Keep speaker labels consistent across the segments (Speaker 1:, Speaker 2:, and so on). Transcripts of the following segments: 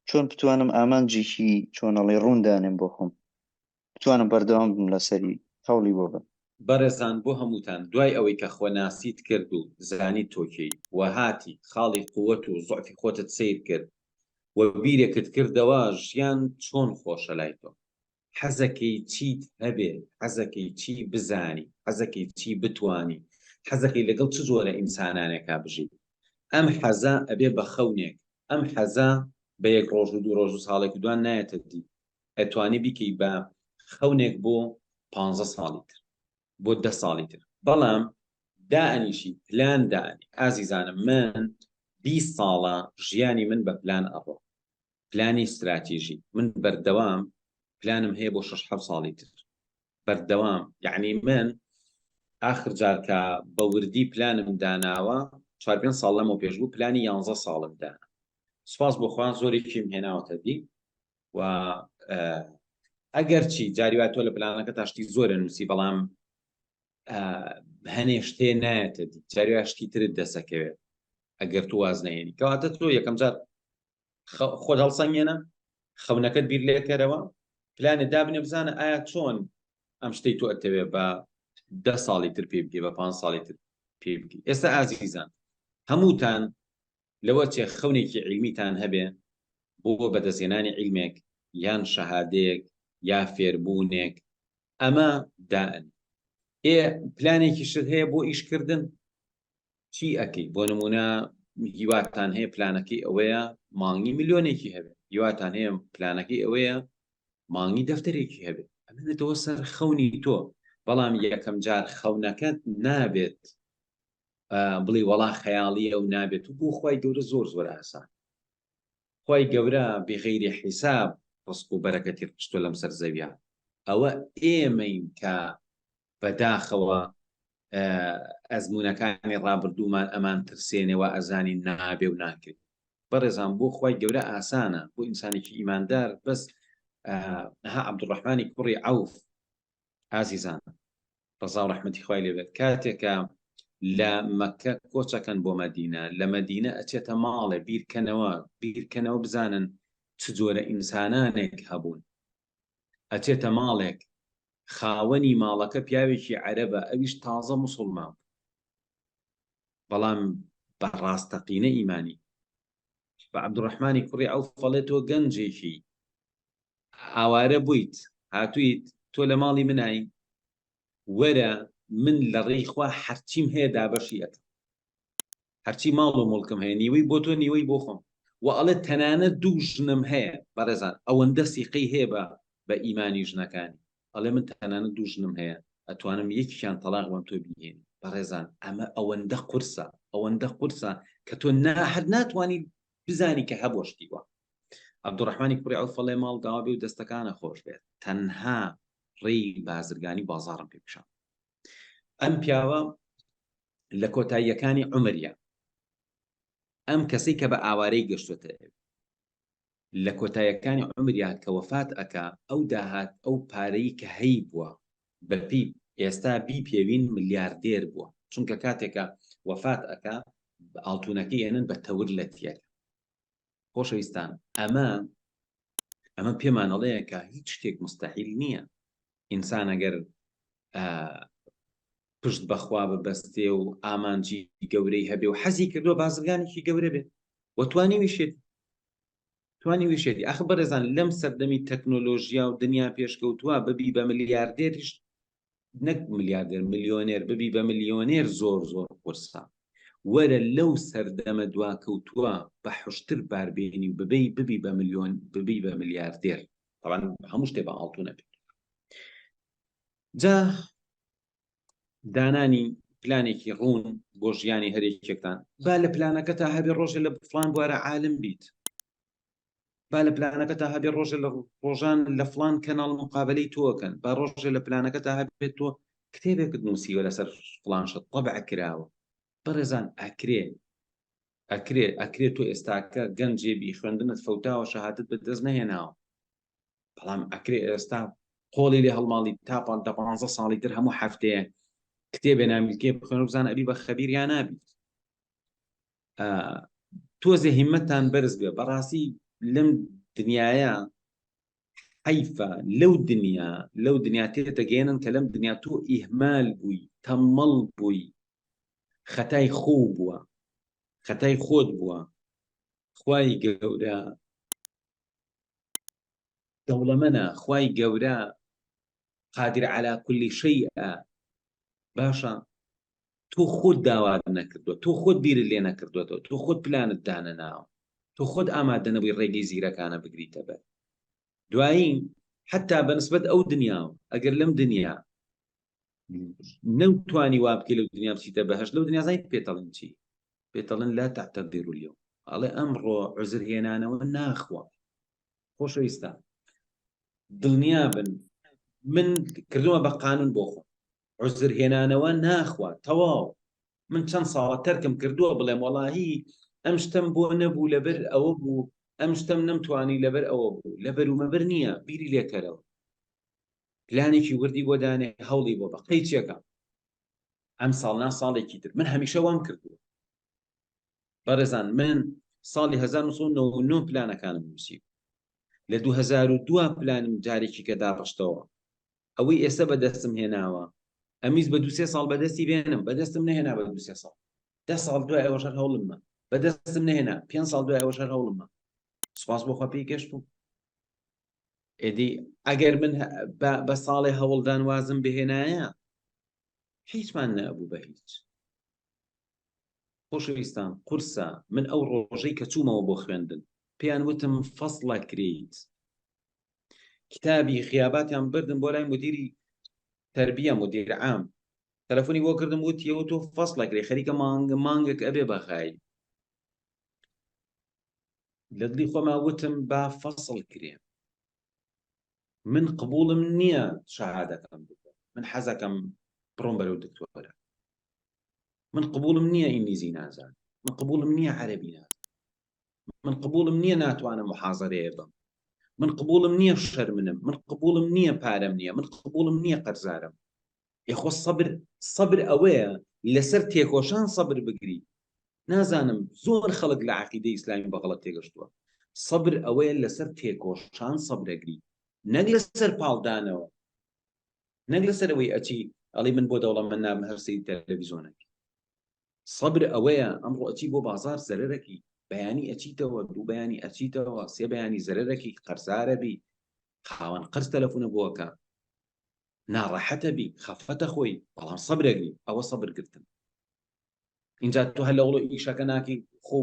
Speaker 1: چۆن بتوانم ئامانجێکی چۆنەڵی ڕوون دانێم بۆ خۆم بتوانم بەردەوام بم لەسەری هەوڵی بۆ بەم. بەڕێزان بۆ
Speaker 2: هەمووتان دوای ئەوەی کە خۆناسیت کرد و زانیت تۆ کێی و هاتی خاڵی قوت و زوعفی خۆتت سەیر کرد و بیرێکت کردەوە ژیان چۆن خۆشە لای تۆ حەزەکەی چیت هەبێ، حەزەکەی چی بزانی، حەزەکەی چی بتوانی، حەزەکەی لەگەڵ چ جۆرە ئینسانانێکا بژیت. ئەم حەزە ئەبێ بە خەونێک، ئەم حەزە بە یەک ڕۆژ و دوو ڕۆژ و ساڵێک و دوان نایەتە دی. ئەتوانی بیکەی بە خەونێک بۆ پانزە ساڵی تر، بۆ دە ساڵی تر. بەڵام دائەنیشی پلان دانێ. ئازیزانم من بیست ساڵە ژیانی من بە پلان ئەڕوا. پلانی ستراتیژی من بەردەوام پلانم هەیە بۆ شش حەو ساڵی تر بەردەوام یعنی من ئاخر جارکە بە وردی پلانم داناوە چوار پێ ساڵ لەمە پێش بوو پلانی یانزە ساڵم دانا سپاس بۆخوان زۆرێکیم هێناوەتە دی و ئەگەر چی جاریوا تۆ لە پلانەکە تاشتی زۆرە نووسی بەڵام هەنێ شتێ نایەتە دی جاریوا شتی ترت دەسەکەوێت ئەگەر تو واز نێنی کەواتە تۆ یەکەم جار خۆت هەڵسەنگێنە خەونەکەت بیر لێکەرەوە پلانێ دابنێ بزانە ئایا چۆن ئەم شتەی تۆ ئەتەوێ بە ده ساڵی تر پێ بگەی بە پ ساڵی تر پێ بگەی ئێستا ئازیزان هەمووتان لەوە چێ خەونێکی عیلمیتان هەبێ بۆ بەدەستێنانی عیلمێک یان شەهادەیەک یا فێربوونێک ئەمە دائن ئێ پلانێکی شت هەیە بۆ ئیشکردن چی ئەکەی بۆ نمونە هیواتان هەیە پلانەکەی ئەوەیە مانگی ملیۆنێکی هەبێت هیواتان هەیە پلانەکەی ئەوەیە مانگی دەفتەرێکی هەبێت ئەمێتەوە سەر خەونی تۆ بەڵام یەکەم جار خەونەکەت نابێت بڵێ وەڵا خەیاڵیە و نابێت و بۆ خی گەورە زۆر زۆر ئاسان خی گەورە بغیری حیساب ڕسک و بەرەکەتی ڕشتۆ لەم سەر زەویان ئەوە ئێمەین کە بە داخەوە ئەزمونەکانی ڕابردوومان ئەمان ترسێنێ وائەزانین نابێ و ناکرێ بەڕێزان بۆ خوای گەورە ئاسانە بۆ ئینسانێکی ئیماندار بەس ها عبدڕحمانی کوڕی عوف ئازیزان ڕزا و ڕحمەتی خوای لێبێت کاتێکە لە مەکە کۆچەکەن بۆ مەدینە لە مەدینە ئەچێتە ماڵێ بیرکەنەوە بیرکەنەوە بزانن چ جۆرە ئینسانانێک هەبوون ئەچێتە ماڵێک خاوەنی ماڵەکە پیاوێکی عەرەبە ئەویش تازە موسڵمان بوو بەڵام بە ڕاستەقینە ئیمانی بە عەبدوڕەحمانی کوڕی ئەو فەڵێ تۆ گەنجێکی ئاوارە بوویت هاتوویت تۆ لە ماڵی منایی وەرە من لە ڕێی خوا هەرچیم هەیە دابەشی ئەکەم هەرچی ماڵ و مڵکم هەیە نیوەی بۆ تۆ نیوەی بۆ خۆم و ئەڵێ تەنانەت دوو ژنم هەیە بەڕێزان ئەوەندە سیقەی هەیە بە بە ئیمانی ژنەکانی ئەڵێ من تەنانەت دوو ژنم هەیە ئەتوانم یەکیان تەلاق بەم تۆ بینین بەڕێزان ئەمە ئەوەندە قورسە ئەوەندە قورسە کە تۆ ناحد ناتوانانی بزانی کە هەبوو شتیوە عبدڕحمانی کوڕی ئەو فەڵێ ماڵ داوا بێ و دەستەکانە خۆش بێت تەنها ڕێی بازرگانی بازارم پێ پیشان ئەم پیاوە لە کۆتاییەکانی عمرە ئەم کەسی کە بە ئاوارەی گەشتوتە لە کۆتایەکانی عمریا کە وەفات ئەکا ئەو داهات ئەو پارەی کە هەی بووە بەپی ئێستا بی پێوین ملیاردێر بووە چونکە کاتێکە وەفات ئەکا ئاڵتونەکە یەنن بە تەور لە تیەکە خۆشەویستان ئەمە ئەمە پێمانەڵەیە کە هیچ شتێک مستحیل نییە ئینسان ئەگەر پشت بەخوا ببەستێ و ئامانجی گەورەی هەبێ و حەزی کردووە بازرگانێکی گەورە بێت وەتوانی ویشێت توانی ویشێتی ئەخ بەڕێزان لەم سەردەمی تەکنۆلۆژیا و دنیا پێشکەوتووە ببی بە ملیاردێریش نەک ملیاردێر ملیۆنێر ببی بە ملیۆنێر زۆر زۆر قورسە وەرە لەو سەردەمە دواکەوتووە بە حشتر باربێنی و ببی ببی بە ملیۆن ببی بە ملیاردێر بەڵام هەموو شتێ بە ئاڵتو نەبێت جا دانانی پلانێکی ڕوون بۆ ژیانی هەرێکێکتان با لە پلانەکە تا هەبێ ڕۆژێ لە بفلان بوارە عالم بیت با لە پلانەکەتا هەبێ ڕۆژە لە ڕۆژان لە فلان کەناڵ مقابلەی تۆکەن با ڕۆژە لە پلانەکەتا هەبێت تۆ کتێبێکت نووسیوە لەسەر فلانشت طبع کراوە بەڕێزان ئەکرێ ئەکرێ ئەکرێت تۆ ئێستاکە گەنجێبی خوێندنت فەوتاوە شەهادت بەدەست نەهێناوە بەڵام ئەکرێ ئێستا قۆڵی لێ هەڵماڵی تاپان دە پانزە ساڵی تر هەموو هەفتەیە کتێبێ نامیلکێ بخوێن بزانە ئەبی بە خەبیر یا نابیت تۆزێ هیمەتان بەرز بێ بەڕاستی لەم دنیاە حیفە لەو دنیا لەو دنیا تێتەگەێنن کە لەم دنیا تۆ ئیهمال بووی تەمەڵ بووی خەتای خۆ بووە خەتای خۆت بووە خی گەورە دەوڵەمەە خی گەورە قادر على کولی شەیئە باشە تۆ خۆت داوات نەکردووە تۆ خۆت بیرت لێ نەکردوێتەوە تۆ خۆت پلانت دانەناوە تۆ خۆت ئامادە نەبووی ڕێگەی زیرەکانە بگریتە بەر دوایی حتا بەنسبەت ئەو دنیا و ئەگەر لەم دنیا نەوتوانی وا بکە لەو دنیا بچیتە بەهش لەو دنیازای پێتەڵین چی پێتەڵن لا تاتە دیرولیەوە ئەڵێ ئەمڕۆ عزر هێنانەوە ناخوە خۆشەویستان دڵنیا بن من کردووە بە قانون بۆ خۆم عوزر هێنانەوە ناخوا تەواو من چەند ساڵە تەرکم کردووە بڵێم وەڵاهی ئەم شتم بۆ نەبوو لەبەر ئەوە بوو ئەم شتم نەمتوانی لەبەر ئەوە بوو لە بەرومەبەر نییە بیری لێکەرەوە پلانێکی وردی بۆ دانێ هەوڵی بۆ بە قەی چێکە ئەم ساڵ نا ساڵێکی تر من هەمیشە وام کردووە بەڕێزان من ساڵی 1990 پلانەکانم نووسی لە 2002 پلانم جارێکی کە داڕشتەوە ئەوەی ئێستا بەدەستم هێناوە ئەمیز بە دو سێ ساڵ بەدەستی بێنم بەدەستم نهێنا بە دو سێ ساڵ دە ساڵ دوای ئەوە شەر هەوڵممە بەدەستم نهێنا پێ ساڵ دوای ئەوە شەر هەوڵممە سپاس بۆ خۆ پێی گەشت بوو ئێدی ئەگەر من بە ساڵێ هەوڵدان وازم بهێنایە هیچمان نەبوو بە هیچ خۆشەویستان قورسە من ئەو ڕۆژەی کە چوومەوە بۆ خوێندن پێیان وتم فەسڵە کریت کتابی خیاباتیان بردم بۆ لای مدیری تربیە مدیر عام تەلەفۆنی بۆ کردم وتیەوە تۆ فەسڵە کرێ خەریکە مانگە مانگێک ئەبێ بەخایی لە دڵی خۆما وتم با فەسڵ کرێ من قبوڵم نییە شەهادەکەم بکەم من حەزەکەم بڕۆم بەرەو دکتۆرە من قبوڵم نییە ئینگلیزی نازان من قبوڵم نییە عەربی نازان من قبوڵم نییە ناتوانم محازەرەیە بم من قبوڵم نییە شەرمنم من قبوڵم نییە پارەم نییە من قبوڵم نییە قەرزارم یەخۆ سەبر سەبر ئەوەیە لەسەر تێکۆشان سەبر بگری نازانم زۆر خەڵک لە عقیدە ئیسلامی بەغڵەت تێگەشتووە سەبر ئەوەیە لەسەر تێکۆشان سەبرەگری نەک لەسەر پاڵدانەوە نەک لەسەر ئەوەی ئەچی ئەڵی من بۆ دەوڵە من نام هەرسی تەلەڤیزۆنێک سەبر ئەوەیە ئەمڕۆ ئەچی بۆ بازار زەرەرەکی بەیانی ئەچیتەوە دوو بەیانی ئەچیتەوە سێ بەیانی زەرەرەکی قەرزارەبی خاوەن قەرز تەلەفونە بۆکە ناڕەحەتە بی خەفەتە خۆی بەڵام سەبرە گری ئەوە سەبر گرتن اینجا تۆ هەر لەوڵۆ ئیشەکە ناکەی خۆ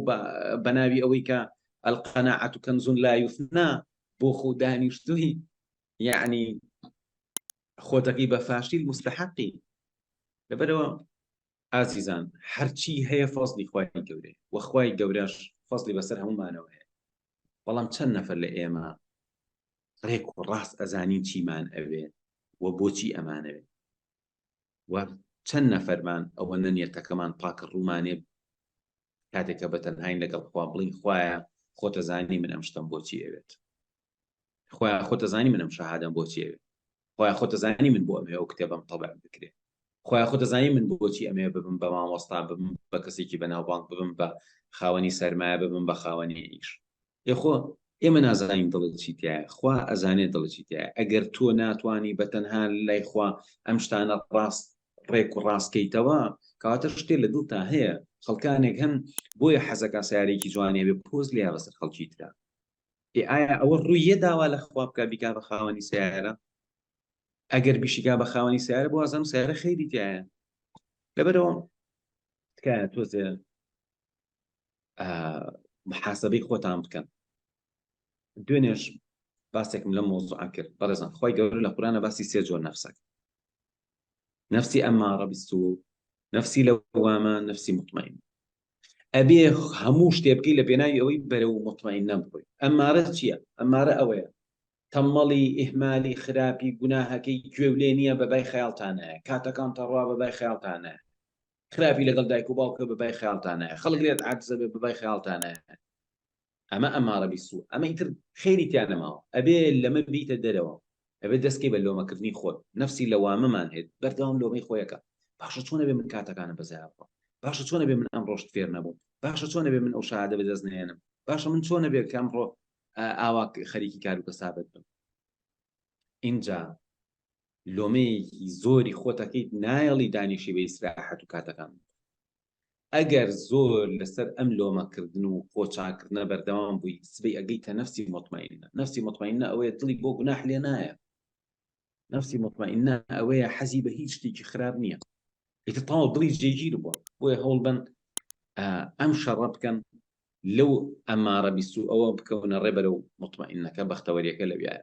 Speaker 2: بەناوی ئەوەی کە ئەلقەناعەت و کەنزون لا یوفنا بۆ خۆ دانیشتوی یعنی خۆتەکەی بە فاشیل مستحقی لەبەرەوە ئازیزان هەرچی هەیە فەزلی خوای گەورەی وەخوای گەورەش فەزلی بەسەر هەمومانەوە هەیە بەڵام چەند نەفەر لە ئێمە ڕێک و ڕاست ئەزانین چیمان ئەوێ و بۆچی ئەمانەوێ و چەند نەفەرمان ئەوە نەنیەتەکەمان پاکە ڕوومانێ کاتێکە بە تەنهاین لەگەڵ خوا بڵین خوایە خۆتەزانی من ئەم شتم بۆچی ئەوێت خوایە خۆتەزانی منم شەهادەم بۆچی ئەوێت خوایە خۆت دەزانی من بۆ ئەمەوێ ئەو کتێبەم تەبع بکرێت خوایە خۆت دەزانی من بۆچی ئەمێ ببم بە مامۆستا ببم بە کەسێکی بەناوبانگ ببم بە خاوەنی سەرمایە ببم بە خاوەنی ئیش یخۆ ئێمە نازانین دڵت چیتە خوا ئەزانێت دڵ چیتە ئەگەر تۆ ناتانی بە تەنها لای خوا ئەم شتانە ڕاست ڕێک و ڕاستکەیتەوە کەواتە شتێ لە دڵتا هەیە خەڵکانێک هەن بۆیە حەزەکە سارێکی جوانێ بێ پۆز لێ بەسەر خەڵکی تررا ئێ ئایا ئەوە ڕوویە داوا لە خوا بکە بیکا بە خاوەنی سیارە ئەگەر بیشیگا بە خاوەنی سیارە بۆ ئازم سیارە خەیری تایە لەبەرەوە تکایە تۆزێ محاسبەی خۆتان بکەن دوێنێش باسێکم لە مۆزوعا کرد بەڕێزان خۆی گەور لە قورانە باسی سێ جۆر نەفسەک نفسی ئەمماڕە بیست و نفسی لە وامە نفسی مطمئن ئەبێ هەموو شتێ بکەی لە پێناوی ئەوەی بەرەو مطمئنە بڕۆی ئەم مارە چییە ئەم مارە ئەوەیە تەمەڵی ئیهمالی خراپی گوناهەکەی گوێ و لێ نییە بە بای خەیاڵتانە کاتەکان تەڕوا بە بای خەیاڵتانە خراپی لەگەڵ دایک و باوکە بە بای خەیاڵتانە خەڵک لێت عاجزە بێ بە بای خەیاڵتانە ئەمە ئەمارە بیسو ئەمە ئیتر خێری تیا نەماوە ئەبێ لەمە بیتە دەرەوە ئەبێ دەستکەی بە لۆمەکردنی خۆت نەفسی لەوامەمان هێت بەردەوام لۆمەی خۆیەکە باشە چۆن ئەبێ من کاتەکانم بەزایا بڕۆم باشە چۆن ئەبێ من ئەمڕۆشت فێر نەبووم باشە چۆن ئەبێ من ئەو شادە بەدەست نێنم باشە من چۆن ئەبێ کە ئەمڕۆ ئاوا خەریکی کار و کەسابەت بم ئینجا لۆمەیەکی زۆری خۆتەکەیت نایەڵی دانیشی بە ئیسراحەت و کاتەکان ئەگەر زۆر لەسەر ئەم لۆمە کردن و خۆ چاک کردنە بەردەوام بووی سبەی ئەگەیتە نەفسی موتمەئینە نەفسی موتمەئینە ئەوەیە دڵی بۆ گوناح لێ نایە نەفسی موتمەئینە ئەوەیە حەزی بە هیچ شتێکی خراپ نییە ئیتر تەواو دڵی جێگیر بووە بۆیە هەوڵ بن ئەم شەڕە بکەن لەو ئەمارە بیست و ئەوە بکەونە ڕێبەرە و مطمئنەکە بەختەوەریەکە لەویایە